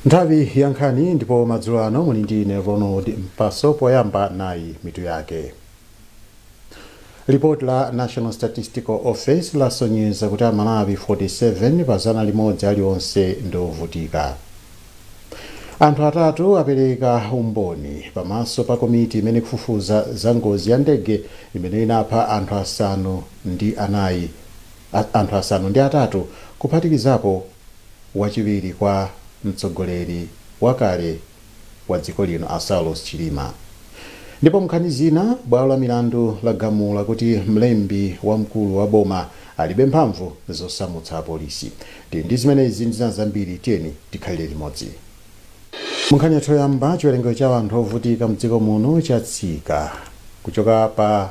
nthawi ya nkhani ndipo madzulo ano muli ndi ine ronald mpaso poyamba nayi mitu yake lipoti la national statistical office lasonyeza kuti amalawi 47 pa zana limodzi alionse ndi ovutika anthu atatu apereka umboni pamaso pa komiti imene ikufufuza za ngozi ya ndege imene inapha anthu asanu ndi anayi a anthu asanu ndi atatu kuphatikizapo wachiwiri kwa mtsogoleri wakale wa dziko lino a Saulos Chilima. Ndipo m'nkhani zina, bwalo la milandu lagamula kuti mlembi wamkulu wa boma alibe mphamvu zosamutsa apolisi. Tili ndi zimenezi ndi zina zambiri, tiyeni tikhalire limodzi. Munkhani yathu yoyamba, chiwerengero cha anthu ovutika m'dziko muno chatsika kuchoka pa.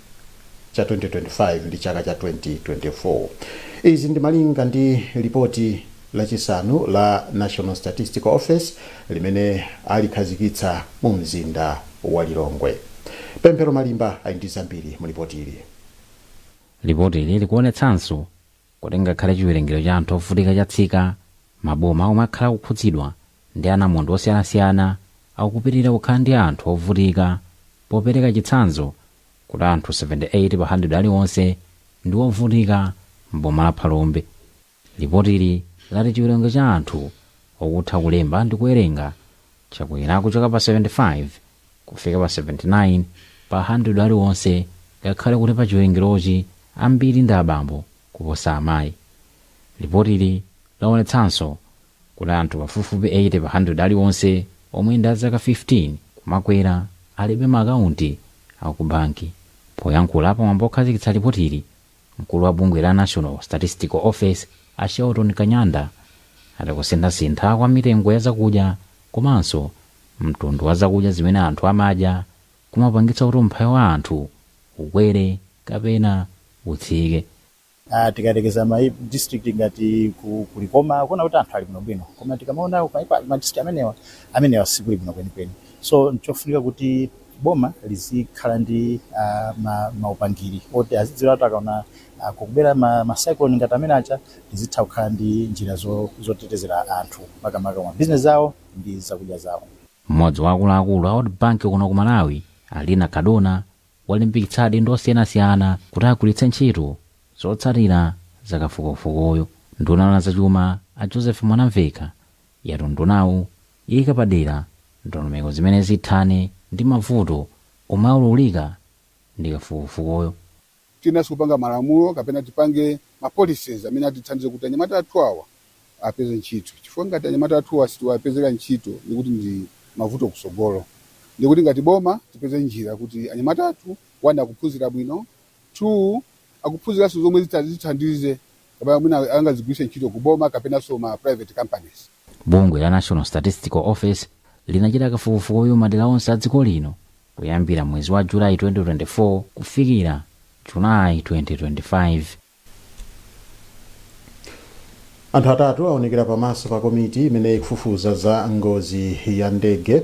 cha 2025 ndi chaka cha 2024. Izi ndi malinga ndi lipoti lachisanu la National Statistical Office limene alikhazikitsa mu mzinda wa Lilongwe. Pemphero Malimba ali ndi zambiri mu lipotili. Lipotili likuonetsanso kuti ngakhale chiwerengero cha anthu ovutika chatsika, maboma omwe akhala akukhudzidwa ndi anamondwe osiyanasiyana akupitilira kukhala ndi anthu ovutika popereka chitsanzo kuti anthu 78 pa 100 aliwonse ndi ovutika m'boma la Phalombe. Lipotili lati chiwerengero cha anthu okutha kulemba ndi kuwerenga chakwera kuchoka pa 75 kufika pa 79 pa handiredi aliwonse, ngakhale kuti pa chiwerengerochi ambiri ndi abambo kuposa amayi. Lipotili laonetsanso kuti anthu pafupifupi 80 pa handiredi aliwonse omwe ndi a zaka 15 kumakwera alibe maakaunti a kubanki. Poyankhula pamwambo wokhazikitsa lipotili, Mkulu wa bungwe la National Statistical Office a Shelton Kanyanda ati kusinthasintha kwa mitengo ya zakudya komanso mtundu wa zakudya zimene anthu amadya kumapangitsa kuti umphawi wa anthu ukwere kapena utsike. a Tikayerekeza ma district ngati ku ku Likoma akuona kuti anthu ali bwinobwino koma tikamaona ma district amenewa, amenewa sikuli bwino kwenikweni. So n'chofunika kuti boma lizikhala ndi uh, ma, maupangiri oti azidziwa kuti akaona uh, kukubwera ma, ma cyclone ngati amene aja lizitha kukhala ndi njira zo, zotetezera anthu makamaka ma bizinesi zawo ndi zakudya zawo mmodzi wa akuluakulu a world bank kuno ku malawi a lina cardona walimbikitsa adindo osiyanasiyana kuti agwiritse ntchito zotsatira za kafukufukuyu nduna ya zachuma a joseph mwanamveka yati undunawu Ika padera ndondomeko zimene zithane ndi mavuto omwe aululika ndi kafukufukuyu. Tiyeneranso kupanga malamulo kapena tipange ma policies amene atithandize kuti anyamata athu awa apeze ntchito chifukwa ngati anyamata athuwa sitiwapezera ntchito ndiye kuti ndi mavuto kusogolo. Ndiye kuti ngati boma tipeze njira kuti anyamata athu one akuphunzira bwino 2 akuphunziranso zomwe zithandize kapena mwina angazigwiritse ntchito ku boma kapenanso ma private companies. Bungwe la National Statistical Office linachita kafukufukuyu m'madera onse a dziko lino kuyambira mwezi wa July 2024 kufikira July 2025. Anthu atatu aonekera pamaso pa komiti imene ikufufuza za ngozi ya ndege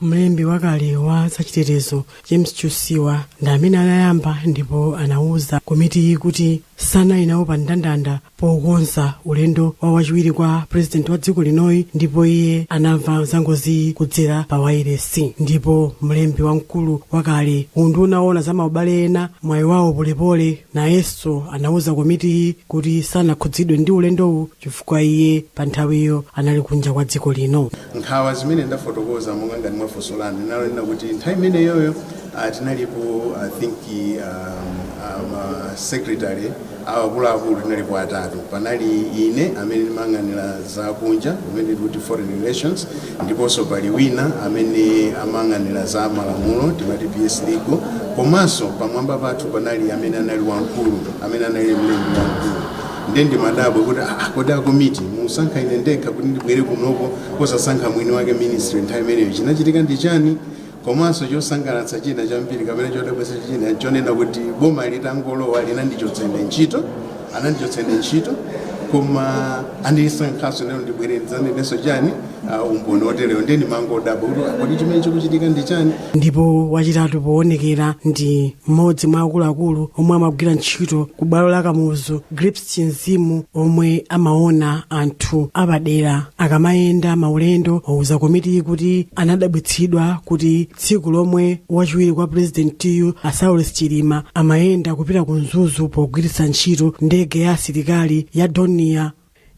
mlembi wakale wa zachitetezo james chiusiwa ndi amene anayamba ndipo anauza komitiyi kuti sanali nawo pa ndandanda pokonza ulendo wa wachiwiri kwa purezidenti wa dziko linoyi ndipo iye anamva zangoziyi kudzera pa wailesi ndipo mlembi wamkulu wakale ku unduna oona za maubale ena mwayi wawo polepole nayenso anauza komitiyi kuti sanakhudzidwe ndi ulendowu chifukwa iye pa nthawiyo anali kunja kwa dziko lino. nkhawa zimene ndafotokoza monga ngati mwa funso lanu ndinanena kuti nthawi imeneyoyo ah, tinalipo i think um, um, ah, ma secretary akuluakulu tinalipo atatu panali ine amene ndimayang'anira za kunja kumene amati foreign relations ndiponso pali wina amene amayang'anira za malamulo timati ps legal komanso pamwamba pathu panali amene anali wamkulu amene anali mlembi wamkulu nde ndimadabwa kuti aa kodi akomiti musankha ine ndekha kuti ndibwere kunoko posasankha mwini wake ministry nthawi imeneyo chinachitika ndi chani komanso chosangalatsa china chambiri kapena chodabwitsa china chonena kuti boma litangolowa linandichotsa ine ntchito anandichotsa ine ntchito koma andisankhanso lero ndibwere ndidzanenenso chani uh, umboni oterewo ndiye ndimangodabwa kuti "Ah, kodi chimene chikuchitika ndi chani ndipo wachitatu poonekera ndi mmodzi mwa akuluakulu omwe amagwira ntchito ku bwalo la kamuzu grips chinzimu omwe amaona anthu apadera akamayenda maulendo wauza komitiyi kuti anadabwitsidwa kuti tsiku lomwe wachiwiri kwa purezidentiyu a saulos chilima amayenda kupita ku mzuzu pogwiritsa ntchito ndege ya asilikali ya dornier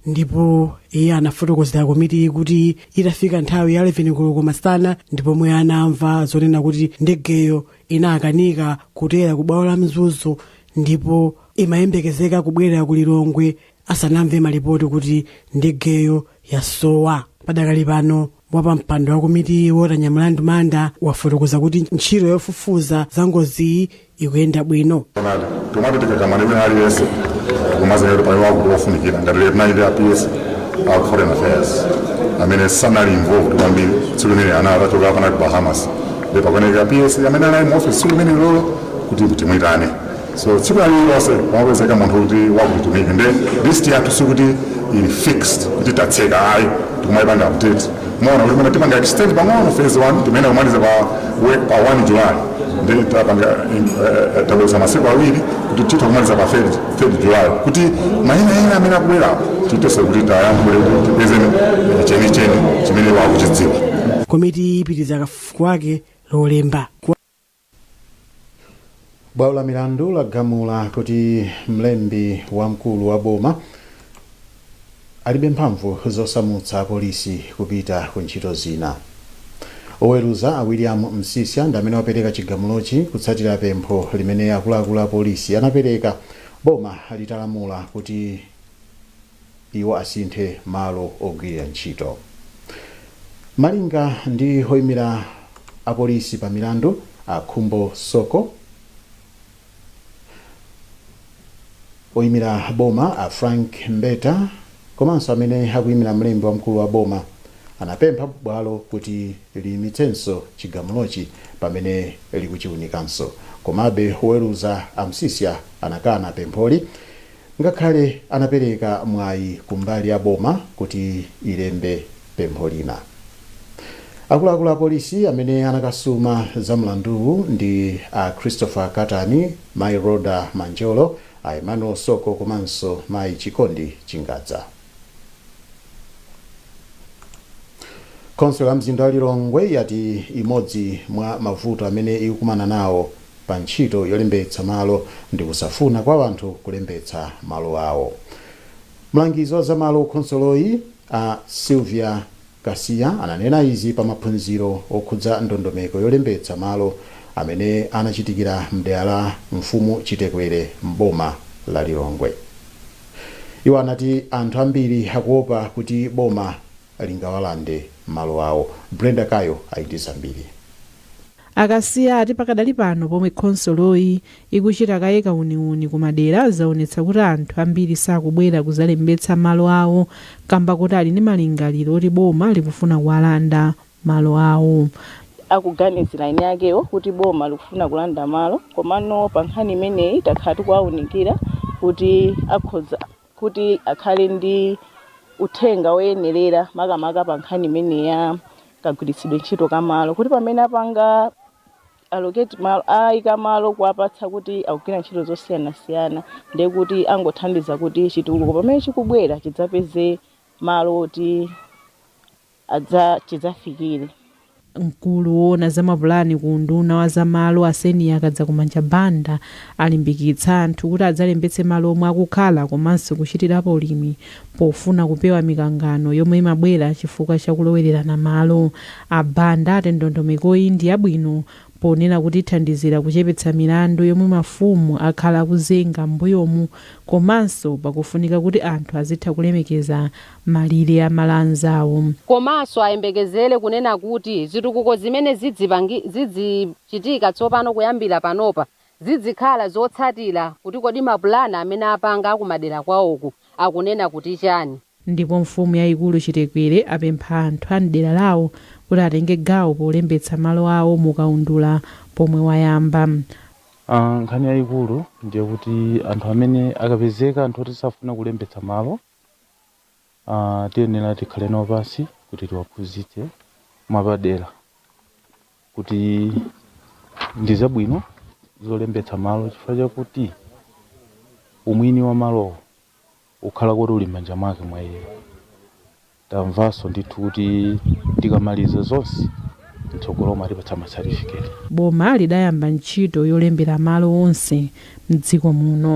ndipo iye anafotokozera komitiyi kuti itafika nthawi ya 11 koloko masana ndi pomwe anamva zonena kuti ndegeyo inakanika kutera ku bwalo la mzuzu ndipo imayembekezeka kubwerera ku lilongwe asanamve malipoti kuti ndegeyo yasowa padakali pano wapampando wa komitiyi walter nyamilandu manda wafotokoza kuti ntchito yofufuza za ngoziyi ikuyenda bwino timati tikakumana imene aliyense kumazanira kuti pali wakuti wofunikira ngati lero tinali ndi a ps a foreign affairs amene sanali involved kwambiri tsiku limene anali atachoka apa anali ku bahamas nde pakuoneka a ps amene anali mu office tsiku limenelolo kuti timuyitane so tsiku lililonse wapezeka munthu kuti wakuti timuike nde list yathu sikuti ili fixed kuti tatseka ayi tikumayipanga update mwaona kuti tapanga extend pang'ono phase 1 timayenera kumaliza pa we- pa 1 July nde tapanga eh, tabweza masiku awiri kuti titha kumaliza pa 3 July kuti maina ena amene akubwera tithese kuti tiwayankhule kuti tipeze eh, chenicheni chimene akuchidziwa komiti ipitiriza kafukufuku wake lolemba Bwalo la milandu lagamula kuti mlembi wamkulu wa boma alibe mphamvu zosamutsa apolisi kupita ku ntchito zina. Oweruza a William Msisya ndi amene wapereka chigamulochi kutsatira pempho limene akuluakulu a polisi anapereka boma litalamula kuti iwo asinthe malo ogwirira ntchito. Malinga ndi oyimira a polisi pa milandu a Khumbo Soko, oyimira boma a Frank Mbeta komanso amene akuyimira mlembi wamkulu wa boma anapempha bwalo kuti liyimitsenso chigamulochi pamene likuchiunikanso. Komabe, oweruza a Msisya anakana pempholi. Ngakhale anapereka mwayi kumbali ya boma kuti ilembe pempho lina, akuluakulu apolisi amene anakasuma za mlanduwu ndi a Christopher Katani, mayi Rhoda Manjolo, a Emmanuel Soko komanso mayi Chikondi Chingadza. Khonsolo ya mzinda wa Lilongwe yati imodzi mwa mavuto amene ikukumana nawo pa ntchito yolembetsa malo ndi kusafuna kwa anthu kulembetsa malo awo. Mlangizi wa za malo ku khonsoloyi, a Sylvia Kasiya, ananena izi pa maphunziro okhudza ndondomeko yolembetsa malo amene anachitikira m'dera la Mfumu Chitekwere m'boma la Lilongwe. Iwo anati anthu ambiri akuopa kuti boma lingawalande malo awo. Brenda Kayo ali ndi zambiri. A Kasiya ati pakadali pano pomwe khonsoloyi ikuchita kaye kauniuni ku madera zaonetsa kuti anthu ambiri sakubwera kuzalembetsa malo awo kamba koti ali ndi malingaliro oti boma likufuna kuwalanda malo awo. Akuganizira eni akewo kuti boma likufuna kulanda malo komano pa nkhani imeneyi takhala tikuwaunikira kuti akhoza kuti akhale ndi uthenga woyenerera makamaka pa nkhani imeneyi ya kagwiritsidwe ntchito ka malo kuti pamene apanga allocate malo ayika malo kuwapatsa kuti akugwira ntchito zosiyanasiyana ndiye kuti angothandiza kuti chitukuko pamene chikubwera chidzapeze malo oti adza chidzafikire. Mkulu woona za mapulani ku unduna wa za malo a Senia Kadzakumanja Banda alimbikitsa anthu kuti adzalembetse malo omwe akukhala komanso kuchitirapo ulimi pofuna kupewa mikangano yomwe imabwera chifukwa cha kulowererana malo. A Banda ati ndondomekoyi ndi yabwino ponena kuti ithandizira kuchepetsa milandu yomwe mafumu akhala akuzenga m'mbuyomu komanso pakufunika kuti anthu azitha kulemekeza malire a malo anzawo. Komanso ayembekezere kunena kuti zitukuko zimene zidzichitika tsopano kuyambira panopa zidzikhala zotsatira kuti kodi mapulani amene apanga akumadera kwawoku akunena kuti chani. Ndipo mfumu yayikulu Chitekwere apempha anthu a m'dera lawo kuti atenge gawo polembetsa malo awo mu kaundula pomwe wayamba. Nkhani yayikulu ndiye kuti anthu amene akapezeka anthu oti safuna kulembetsa malo, Aaa tiyenera tikhale nawo pansi kuti tiwaphunzitse mwapadera kuti ndi zabwino zolembetsa malo chifukwa chakuti umwini wa malowo ukhala kuti uli m'manja mwake mwa iye tamvanso ndithu kuti tikamaliza zonse mtsogolomu atipatsa masatifiketi Boma lidayamba ntchito yolembera malo onse m'dziko muno.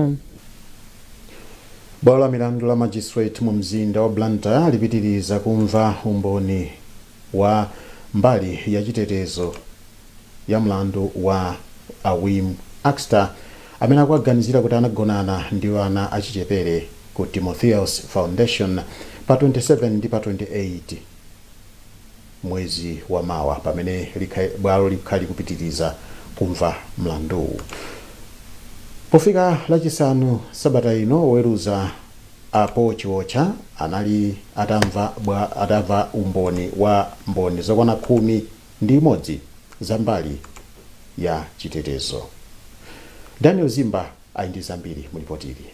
Bwalo la milandu la Magistrate mu mzinda wa Blantyre lipitiriza kumva umboni wa mbali ya chitetezo ya mlandu wa a Wim Akster amene akuwaganizira kuti anagonana ndi ana achichepere ku Timotheus Foundation pa 27 ndi pa 28 mwezi wa mawa pamene li bwalo likhale likupitiriza kumva mlanduwu. Pofika lachisanu sabata ino, oweruza a Paul Chiotcha anali atamva umboni wa mboni zokwana khumi ndi imodzi za mbali ya chitetezo. Daniel Zimba ali ndi zambiri mu lipotili.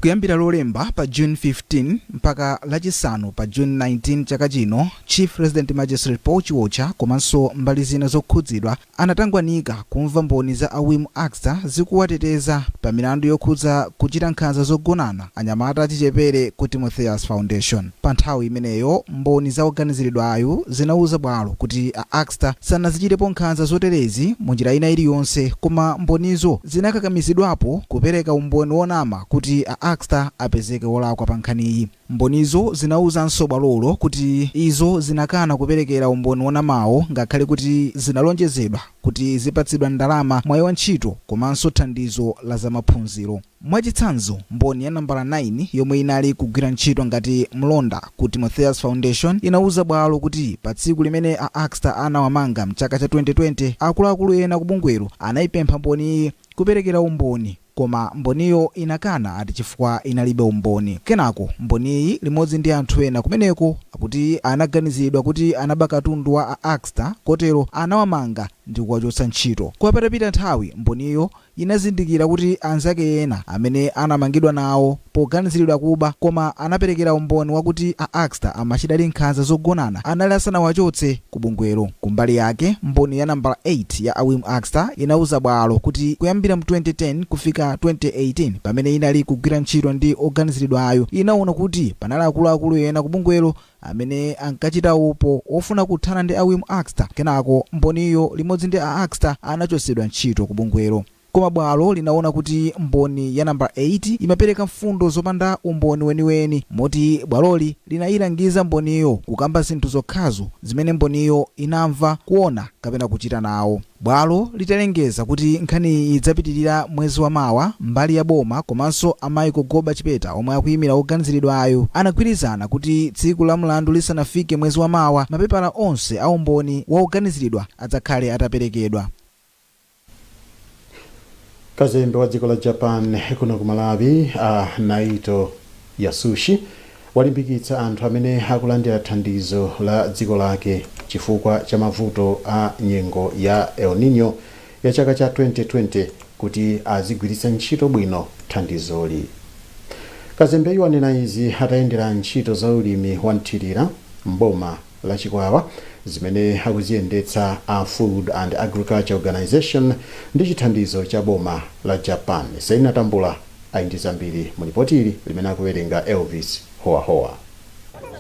Kuyambira Lolemba pa June 15 mpaka Lachisanu pa June 19 chaka chino, Chief Resident Magistrate Paul Chiotcha komanso mbali zina zokhudzidwa anatangwanika kumva mboni za a Wim Akster zikuwateteza pa milandu yokhudza kuchita nkhanza zogonana anyamata achichepere ku Timotheus Foundation. Panthawi imeneyo, mboni za woganiziridwayu zinauza bwalo kuti a Akster sanazichitepo nkhanza zoterezi munjira ina iliyonse koma mbonizo zinakakamizidwapo kupereka umboni wonama kuti a Akster apezeke wolakwa pankhaniyi. Mbonizo zinauzanso bwalolo kuti izo zinakana kuperekera umboni wonamawo ngakhale kuti zinalonjezedwa kuti zipatsidwa ndalama, mwayi wa ntchito komanso thandizo la zamaphunziro. Mwachitsanzo, Mboni ya nambala 9 yomwe inali kugwira ntchito ngati mlonda ku Timotheus Foundation inauza bwalo kuti patsiku limene a Akster anawamanga m'chaka cha 2020, akuluakulu ena ku bungwelo anaipempha Mboniyi kuperekera umboni koma Mboniyo inakana ati chifukwa inalibe umboni. Kenako Mboniyi limodzi ndi anthu ena kumeneko akuti anaganizidwa kuti anaba katundu wa a Akster kotero anawamanga ndi kuwachotsa ntchito. Koma patapita nthawi Mboniyo inazindikira kuti anzake ena amene anamangidwa nawo poganiziridwa kuba koma anaperekera umboni wakuti a Akster amachitadi nkhanza zogonana anali asanawachotse ku bungwelo. Kumbali yake, mboni ya nambala 8 ya a Wim Akster inauza bwalo kuti kuyambira mu 2010 kufika 2018 pamene inali kugwira ntchito ndi oganiziridwayu, inaona kuti panali akuluakulu ena ku bungwelo amene ankachita upo wofuna kuthana ndi a Wim Akster. Kenako Mboniyo limodzi ndi a Akster anachotsedwa ntchito ku bungwelo. Koma bwalo linaona kuti Mboni ya nambala 8 imapereka mfundo zopanda umboni weniweni moti bwaloli linailangiza Mboniyo kukamba zinthu zokhazo zimene Mboniyo inamva, kuona kapena kuchita nawo. Bwalo litalengeza kuti nkhaniyi idzapitilira mwezi wa mawa, mbali ya boma komanso a Michael Goba Chipeta omwe akuyimira woganiziridwayu anagwirizana kuti tsiku la mlandu lisanafike mwezi wa mawa, mapepala onse a umboni wa woganiziridwa adzakhale ataperekedwa. Kazembe wa dziko la Japan kuno ku Malawi a Naito Yasushi Walimbikitsa anthu amene akulandira thandizo la dziko lake chifukwa cha mavuto a nyengo ya El Niño ya chaka cha 2020 kuti azigwiritsa ntchito bwino thandizoli. Kazembeyu wanena izi atayendera ntchito za ulimi wa mthirira m'boma la chikwawa zimene akuziyendetsa a Food and Agriculture Organization ndi chithandizo cha boma la Japan. Selina Tambula ali ndi zambiri mu lipoti ili limene akuwerenga Elvis Howahowa.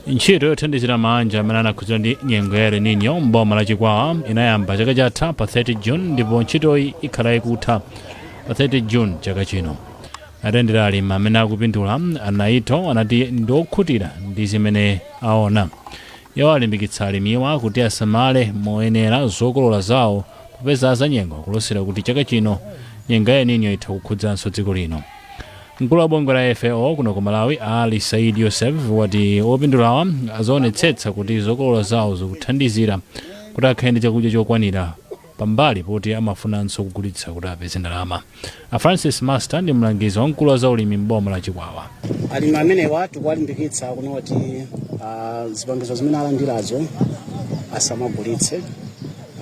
Ntchito yothandizira maanja amene anakhudzidwa ndi nyengo ya El Nino m'boma la Chikwawa inayamba chaka chatha pa 30 June ndipo ntchitoyi ikhala ikutha pa 30 June chaka chino. Atayendera alimi amene akupindula, a Naito anati ndi okhutira ndi zimene aona iwo alimbikitsa alimiwa kuti asamale moyenera zokolola zawo popeza azanyengo akulosera kuti chaka chino nyengo ya El Nino itha kukhudzanso dziko lino mkulu wa bungwe la fao kuno ku malawi ali said yosef wati opindulawa azaonetsetsa kuti zokolola zawo zikuthandizira kuti akhale ndi chakudya chokwanira pambali poti amafunanso kugulitsa kuti apeze ndalama. A Francis Master ndi mlangizi wamkulu wa zaulimi m'boma la Chikwawa. alimi amenewa tikuwalimbikitsa kunena kuti zipangizo zimene alandirazo asamagulitse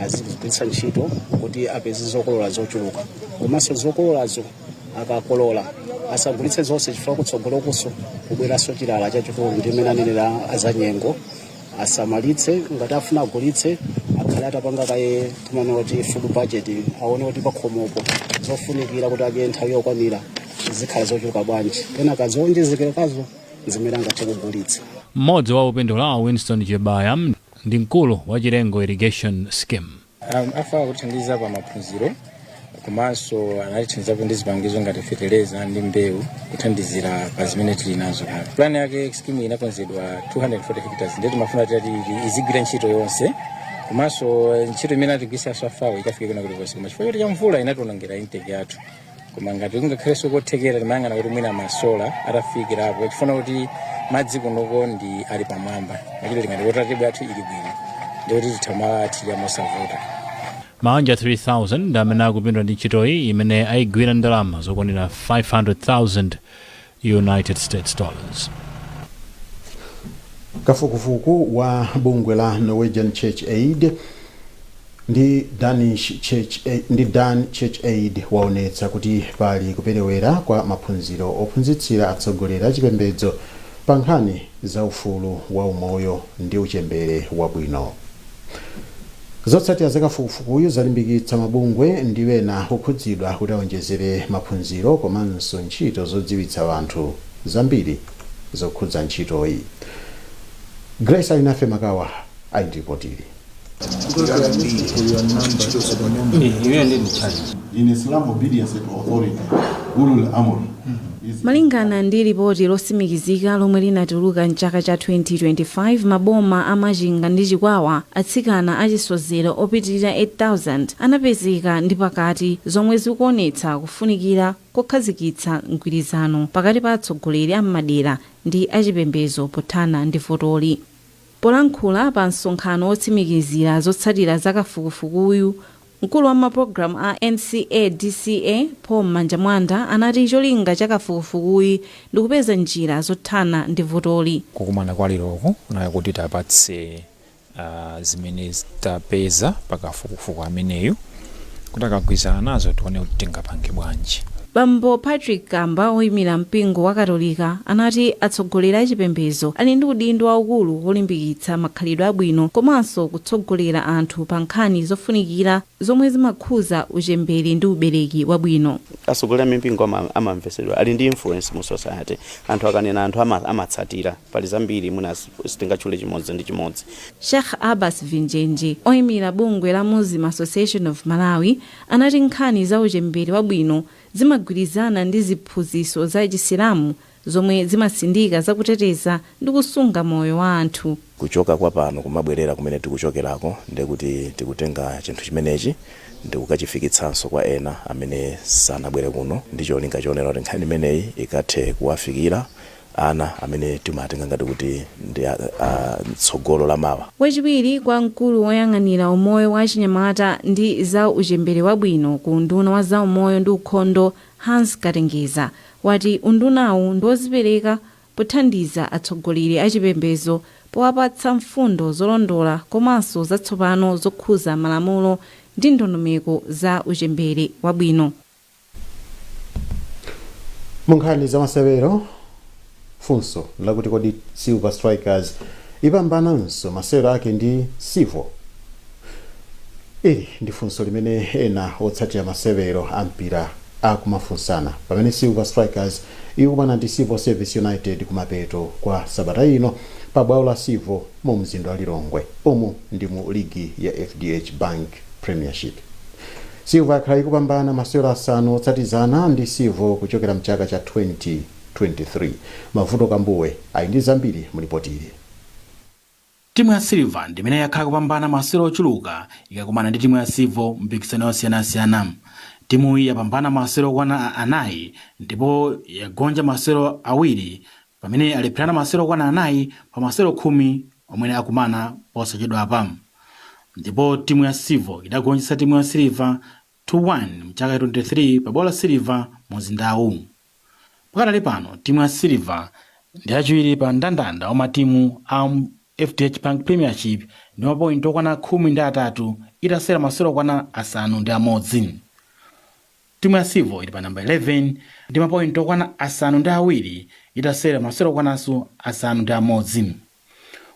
azigwiritsa ntchito kuti apeze zokolola zochuluka komanso zokololazo akakolola asagulitse zonse chifukwa kutsogolokuso kubweranso chilala chachikulu ndi mmene anenera azanyengo asamalitse ngati afuna agulitse akhale atapanga kaye timanena kuti food budget aone kuti pakhomopo zofunikira kuti adye nthawi yokwanira zikhala zochuluka bwanji kenaka zowonjezekerazo ndi zimene angathe kugulitsa mmodzi wa opindula winston chebaya ndi mkulu wa chilengo irrigation scheme A FAO akutithandiza pa maphunziro komanso anatithandizapo ndi zipangizo ngati feteleza ndi mbewu kuthandizira pa zimene tili nazo kale pulani yake skimu inakonzedwa 240 hectares ndiye timafuna tati izigwira ntchito yonse komanso ntchito imene atigwiritsanso a FAO ikafike kwina kulikonse koma chifukwa choti cha mvula inationongera intake yathu koma ngati kungakhalenso kothekera timayang'ana kuti mwina masola atafikirapo chifukwa choti madzi kunoko ndi ali pamwamba machito tingati wotatibwa athu ili bwino ndi kuti titha kumathirira mosavuta maanja 3000 ndi amene akupindula ndi ntchitoyi imene ayigwira ndalama zokwanira 500000 United States dollars. kafukufuku wa bungwe la norwegian church aid ndi dan church aid waonetsa kuti pali kuperewera kwa maphunziro ophunzitsira atsogoleri achipembedzo pa nkhani za ufulu wa umoyo ndi uchembere wabwino Zotsatira za kafukufukuyu zalimbikitsa mabungwe ndi ena okhudzidwa kuti awonjezere maphunziro komanso ntchito zodziwitsa anthu zambiri zokhudza ntchitoyi. Grace Alinafe Makawa ali ndi lipoti ili. In Islam, obedience to authority, Ulul Amr. Malingana ndi lipoti losimikizika lomwe linatuluka m'chaka cha 2025 maboma a Machinga ndi Chikwawa atsikana achisodzero opitilira 8000 anapezeka ndi pakati zomwe zikuonetsa kufunikira kokhazikitsa mgwirizano pakati pa atsogoleri a m'madera ndi achipembezo pothana ndi vutoli. Polankhula pa msonkhano wotsimikizira zotsatira za kafukufukuyu, Mkulu wa mapulogalamu a NCA, DCA, Paul Mmanjamwanda anati cholinga cha kafukufukuyu ndikupeza njira zothana ndi vutoli. Kukumana kwa leroku kunali kuti tapatse zimene tapeza pa kafukufuku ameneyu kuti akagwirizana nazo tione kuti tingapange bwanji. Bambo Patrick Kamba oyimira mpingo wa Katolika anati atsogoleri achipembezo ali ndi udindo waukulu wolimbikitsa makhalidwe abwino komanso ku. tsogolera anthu pa nkhani zofunikira zomwe zimakhuza uchembere ndi ubereki wabwino. Atsogoleri a mipingo amamvetsedwa, ali ndi influence mu society. Anthu akanena anthu amatsatira. Pali zambiri mwina sitingatchule chimodzi ndi chimodzi. Sheikh Abbas Vinjenje, oimira bungwe la Muslim Association of Malawi, anati nkhani za uchembere wabwino zimagwirizana ndi ziphunzitso za Chisilamu zomwe zimatsindika za kuteteza ndi kusunga moyo wa anthu. kuchoka kwa pano kumabwerera kumene tikuchokerako ndiye kuti tikutenga chinthu chimenechi ndikukachifikitsanso kwa ena amene sanabwere kuno ndi cholinga chonena kuti nkhani imeneyi ikathe kuwafikira ana amene timawatenga ngati kuti ndi a, a, tsogolo la mawa. Wachiwiri kwa mkulu woyang'anira umoyo wa achinyamata ndi za uchembere wabwino ku unduna wa zaumoyo ndi ukhondo Hans Katengeza wati undunawu ndiwozipereka pothandiza atsogoleri achipembezo powapatsa mfundo zolondola komanso zatsopano zokhuza malamulo ndi ndondomeko za uchembere wabwino. Munkhani zamasewero. Funso nlakuti kodi Silver Strikers ipambananso masewero ake ndi Civo? Ili ndi funso limene ena otsatira masewero a mpira akumafunsana pamene Silver Strikers ikumana ndi Civil Service United kumapeto kwa sabata ino pa bwalo la Civo mu mzinda wa Lilongwe. Umu ndi mu ligi ya FDH Bank Premiership. Silver yakhala ikupambana masewero asanu otsatizana ndi Civo kuchokera mchaka cha 20 23. Mavuto Kambuwe ali ndi zambiri mu lipotili. Timu ya Silver ndi imene yakhala ikupambana masewero ochuluka ikakumana ndi timu ya Civo m'mipikisano yosiyanasiyana. Timuyi yapambana masewero okwana anayi ndipo yagonja masewero awiri pamene alepherana masewero okwana anayi pa masewero khumi omwe akumana posachedwa apa ndipo timu ya Civo idagonjetsa timu ya Silver to 1 mchaka cha 23 pa bwalo la Silver mu mzindawu. Pakadali pano timu ya Silver ndi yachiwiri pa mndandanda wa matimu a mu FDH Bank Premiership ndi ma point okwana khumi ndi atatu itasewera masewero okwana asanu ndi amodzi. Timu ya Civil ili pa namba 11 ndi ma point okwana asanu ndi awiri itasewera masewero okwananso asanu ndi amodzi.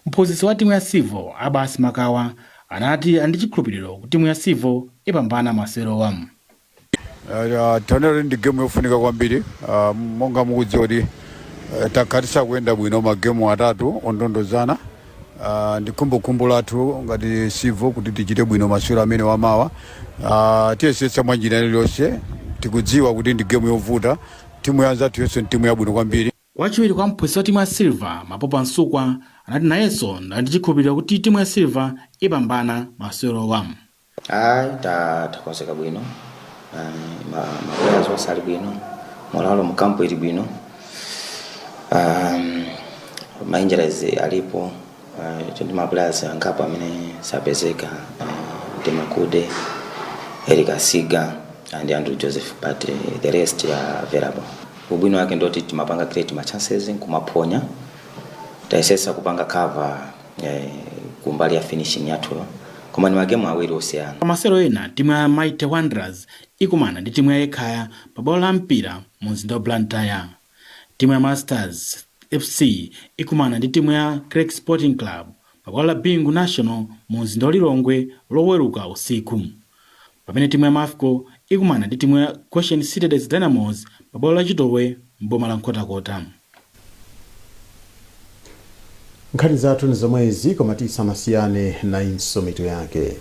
Mphunzitsi watimu ya Civil, Abas Makawa, anati ali ndi chikhulupiliro kuti timu ya Civil ipambana masewerowa. Taonera kuti ndi gemu yofunika kwambiri monga mukudziwa kuti takhala tisakuyenda bwino magemu atatu ondondozana. Ndi khumbokhumbo lathu ngati Civil kuti tichite bwino masewero amenewa mawa. Tiyesetsa mwa njira iliyonse, tikudziwa kuti ndi gemu yovuta, timu ya anzathuyonso ndi timu yabwino kwambiri. Wachiwiri kwa mphunzitsi watimu ya Silver, Mapopa Msukwa, anati nayenso ali ndi chikhulupiliro kuti timu ya Silver ipambana masewerowa. Ayi takonzeka bwino ma players onse ali bwino moralo mu camp ili bwino ma injuries alipo ndi ma players angapo amene sapezeka ndi makude eric asiga and andrew joseph but uh, the rest are available ubwino wake ndoti timapanga create ma chances nkumaphonya tayesesa kupanga cover eh, kumbali ya finishing yathu koma ni magemu awiri osiyana pa masewero ena timu ya mighty wanderers ikumana ndi timu ya ekhaya pa bwalo la mpira mu mzinda wa blantyre Timu ya Masters FC ikumana ndi timu ya Creck Sporting Club pa bwalo la Bingu National mu mzinda wa Lilongwe loweruka usiku. Pamene timu ya Mafco ikumana ndi timu ya Goshen City Dedza Dynamos pa bwalo la Chitowe m'boma la Nkhotakota. Nkhani zathu ni zomwezi koma tisanasiyane nayinso mitu yake.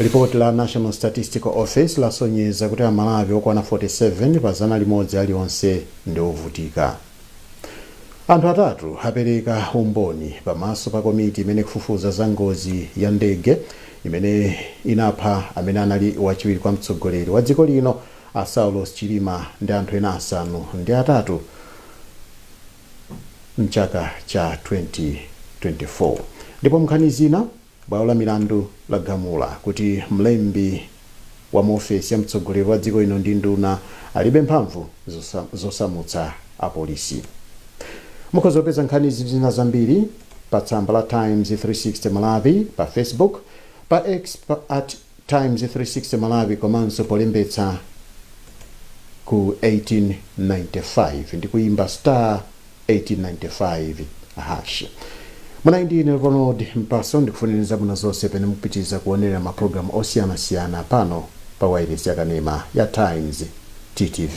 Lipoti la National Statistical Office lasonyeza kuti Amalawi okwana 47 pa zana limodzi alionse ndi ovutika. Anthu atatu apereka umboni pamaso pa komiti imene ikufufuza za ngozi ya ndege imene inapha amene anali wachiwiri kwa mtsogoleri wa dziko lino a Saulos Chilima ndi anthu ena asanu ndi atatu mchaka cha 2024. Ndipo mnkhani zina, bwalo la milandu lagamula kuti mlembi wa mu ofesi ya mtsogoleri wa dziko lino ndi nduna alibe mphamvu zosamutsa apolisi. Mukhoza kupeza nkhanizi ndi zina zambiri pa tsamba la Times 360 Malawi pa Facebook, pa X at Times 360 Malawi komanso polembetsa ku 1895 ndi kuimba star 1895 hash. Munali ndi ine Ronald Mpaso ndikufunirani zabwino zonse pamene mukupitiriza kuonera mapulogalamu osiyanasiyana pano pa wailesi yakanema ya Times TTV.